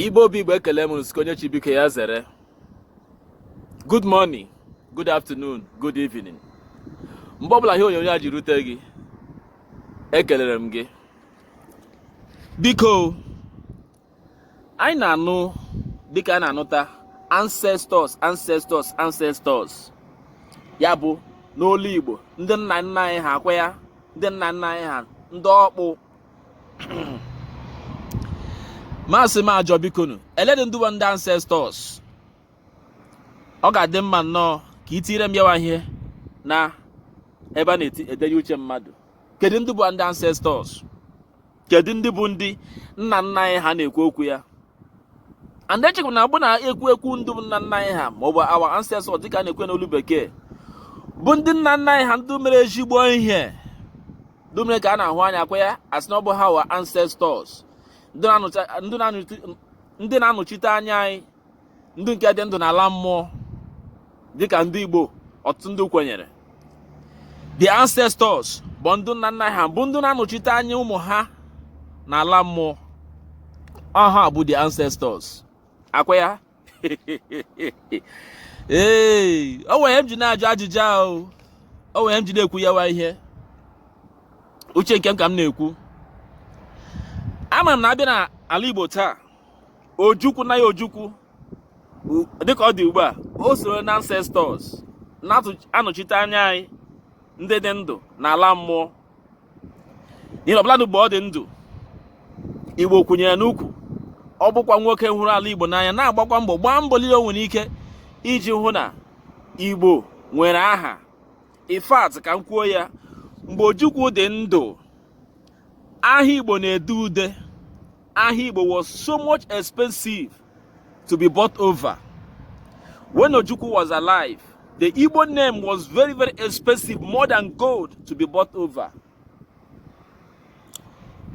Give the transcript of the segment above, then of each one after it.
Igbo bụ Igbo ekele m nsuko onye chi biko ya zere good morning good afternoon good evening mgbe ọbụla ihe onyonyo a ji rute gị ekelere m gị biko anyị na-anụ dịka a na-anụta ancestors ancestors ya bụ n'olu Igbo ndị nna nna anyị ha akwa ya ndị nna nna anyị ha ndị ọkpụ ma a sị m ajụọ bikonu elee dị ndị bụ ndị ancestors ọ ga-adị mma nnọọ ka ị tinyere m yawa ihe na ebe a na-edenye uche mmadụ kedu ndị bụ ndị ancestors kedu ndị bụ ndị nna nna anyị ha a na-ekwu okwu ya and echekwa na ọ bụ na-ekwu okwu ndị bụ nna nna anyị ha ma ọ bụ our ancestors dịka a na-ekwu ya n'olu bekee bụ ndị nna nna anyị ha ndị mere ezigbo ihe ndị mere ka a na-ahụ anya akwa ya a sị na ọ bụ our ancestors ndị na-anọchite anya anyị ndị nke dị ndụ n'ala mmụọ dịka ndị Igbo ọtụtụ ndị kwenyere the ancestors bụ ndị nna nna ha bụ ndị na-anọchite anya ụmụ ha n'ala mmụọ ọ ha bụ the ancestors akwa ya ee o nwere ihe m ji na-ajụ ajụjụ ahụ o nwere ihe m ji na-ekwu yawa ihe uche nke m ka m na-ekwu ama m na a bịa na ala Igbo taa ojukwu na ya ojukwu dịka ọ dị ugbu a o soro na ancestors na-anọchite anya anyị ndị dị ndụ na ala mmụọ n'ihi ọbụla mgbe ọ dị ndụ igbo kwụnyere n'ukwu ọ bụkwa nwoke hụrụ ala igbo n'anya na-agbakwa mbọ gbaa mbọ niile o nwere ike iji hụ na igbo nwere aha in fact ka m kwuo ya mgbe ojukwu dị ndụ aha igbo na-ede ude aha igbo was so much expensive to be bought over. When Ojukwu was alive, the Igbo name was very, very expensive, more than gold to be bought over.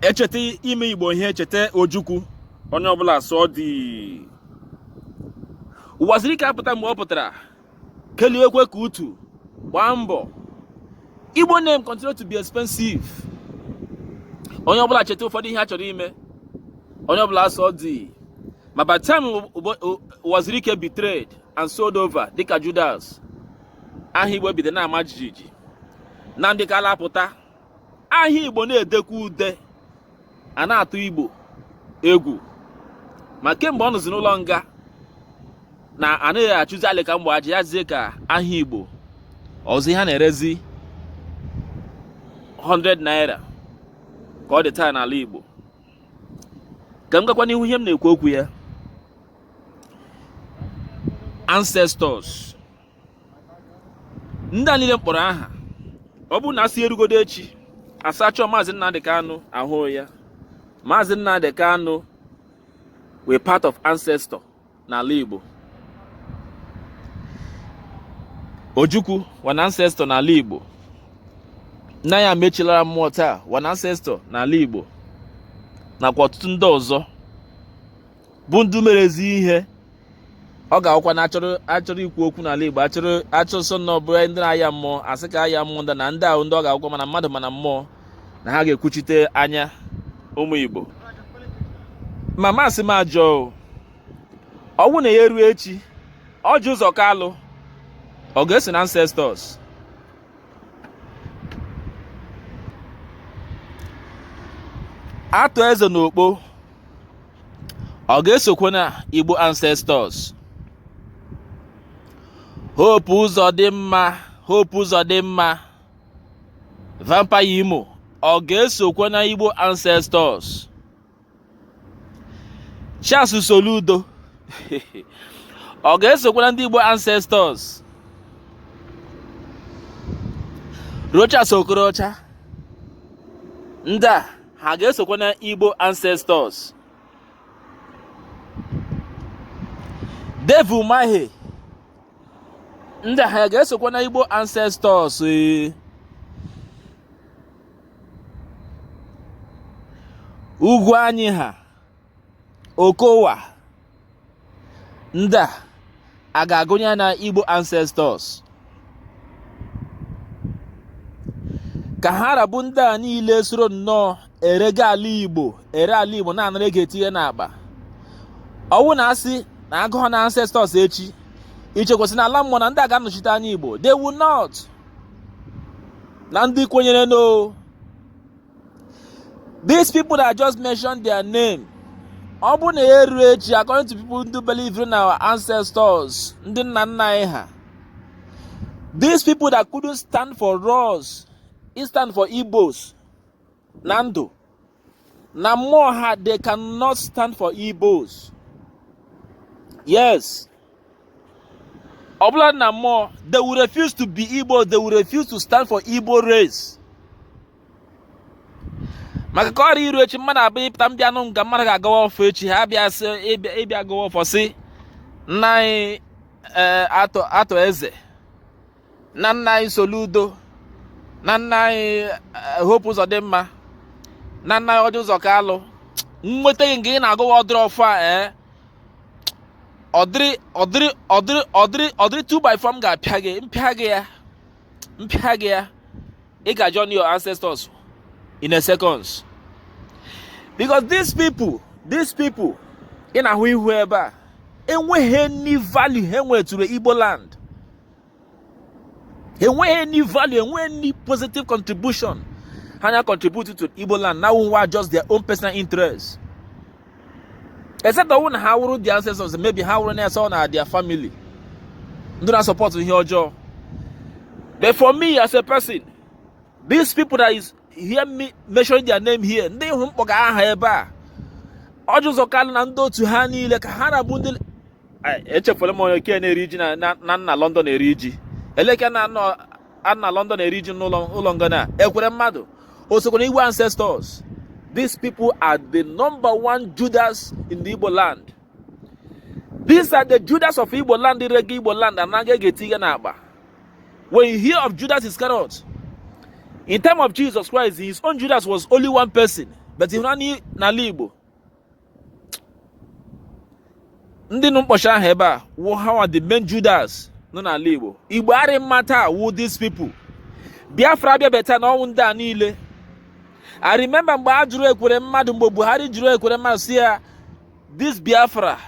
E cheta ime Igbo ihe e cheta Ojukwu onye ọbụla sọọ dị Uwazuruike apụta mgbe ọ pụtara keliwekwa ka utu gbaa mbọ igbo name continue to be expensive onye ọbụla cheta ụfọdụ ihe a chọrọ ime onye ọbụla asọ dị ma by time Uwazuruike betrayed and sold over dịka Judas aha igbo bido na-ama jijiji Nnamdi Kanu apụta aha igbo na-edekwa ude a na-atụ igbo egwu ma kemgbe ọ nọzi n'ụlọ nga na anaghị achụzi alị ka mgbe aja ya zie ka aha igbo ọzọ ihe a na-erezi 100 naira ka ọ dị taa n'ala igbo ka m gakwa n'ihu ihe m na-ekwu okwu ya ancestors ndị a niile m kpọrọ aha ọ bụrụ na asị erugodo echi asachọ maazị Nnamdi Kanu ahụ ya maazị Nnamdi Kanu wụ part of ancestor n'ala Igbo Ojukwu wụ an ancestor n'ala Igbo nna ya mechilara mmụọ taa wụ an ancestor n'ala Igbo nakwa ọtụtụ ndị ọzọ bụ ndị mere ezi ihe ọ ga-awụkwa na achọrọ ikwu okwu n'ala Igbo achọrọ achọsọ na ọ bụrụ ndị na-aya mmụọ asị ka aya mmụọ ndị na ndị ahụ ndị ọ ga-awụkwa ma na mmadụ ma na mmụọ na ha ga-ekwuchite anya ụmụ Igbo ma masị m ajụọ ọ wụ na ya eruo echi Orji Uzor Kalu ọ ga-eso na ancestors Arthur Eze na Ukpo ọ ga-esokwa na igbo ancestors Hope Uzodimma vampire imo ọ ga-esokwa na igbo ancestors Charles Soludo ọ ga-esokwa na ndị Igbo ancestors Rochas Okorocha ndị a ha ga-esokwa na Igbo ancestors Dave Umahi ndị a ha ga-esokwa na Igbo ancestors ee Ugwuanyi ha Okowa ndị a a ga-agụnye ha na igbo ancestors ka ha ra bụ ndị a niile soro nnọọ erega ala igbo ere ala igbo na-anara ego etinye n'akpa ọ wụ na asị na agụọ na ancestors echi i chekwa sị na ala mmụọ na ndị a ga-anọchite anya igbo they will not na ndị kwenyere no these people that just mentioned their name ọ bụ na ya eruo echi according to people ndị believe in our ancestors ndị nna nna anyị ha these people that couldn't stand for us stand for igbos na ndụ na mmụọ ha they cannot stand for Igbos yes ọbụladị na mmụọ they will refuse to be Igbo they will refuse to stand for Igbo race maka ka ọ ghara iru echi mmadụ abịa pụta m bịa nụ nga mmadụ ga-agọwa ọfọ echi ha bịa sị ịbịa gọwa ọfọ sị nna anyị eh, Arthur Eze na nna anyị Soludo na nna anyị eh, Hope Uzodimma na nna anyị Orji Uzor Kalu nweta gị nga ị na-agọwa ụdịrị ọfọ a ee eh? ụdịrị 2 by 4 m ga-apịa gị m pịa gị ya ị ga join your ancestors in a seconds because these people ị na-ahụ ihu ebe a enweghị any value ha wetụrụ Igbo land enweghị any value enweghị any positive contribution ha na contribute to Igbo land now wụ just their own personal interest except ọ wụ na ha wụrụ the ancestors maybe ha wụrụ na-ese na their family ndị na support ihe ọjọọ but for me as a person these people that is hear me mentioning their name here ndị hụ m kpọga aha ebe a Orji Uzor Kalu na ndị otu ha niile ka ha ra bụ ndị echefula m onye nke na-eri ji nọ na London eri ji eleke nọ na London eri ji n'ụlọ nga na Ekweremadu o sokwa na Igbo ancestors these people are the number one Judas in the Igbo land these are the Judas of Igbo land rega Igbo land anara ego tinye n'akpa when you hear of Judas Iscariot in time of Jesus Christ his own Judas was only one person but here n'ala Igbo ndị nụ m kpọsị aha ebe a wụ ha wụ the main Judas nọ n'ala Igbo Igbo arị mma taa wụ these people Biafra abịabe taa na ọ wụ ndị a niile I remember mgbe a jụrụ Ekweremadu mgbe Buhari jụrụ Ekweremadu sị ya this Biafra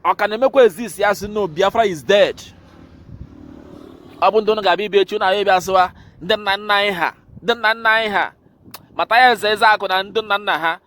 ọ ka na-emekwa exist ya sị no Biafra is dead ọ bụ ndị ụnụ ga-abịa ibi echi ụnụ abịa sịwa ndị nna nna anyị ha ndị nna nna anyị ha mata ya eze eze akụ na ndị nna nna ha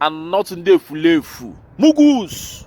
and not ndị efulefu mugus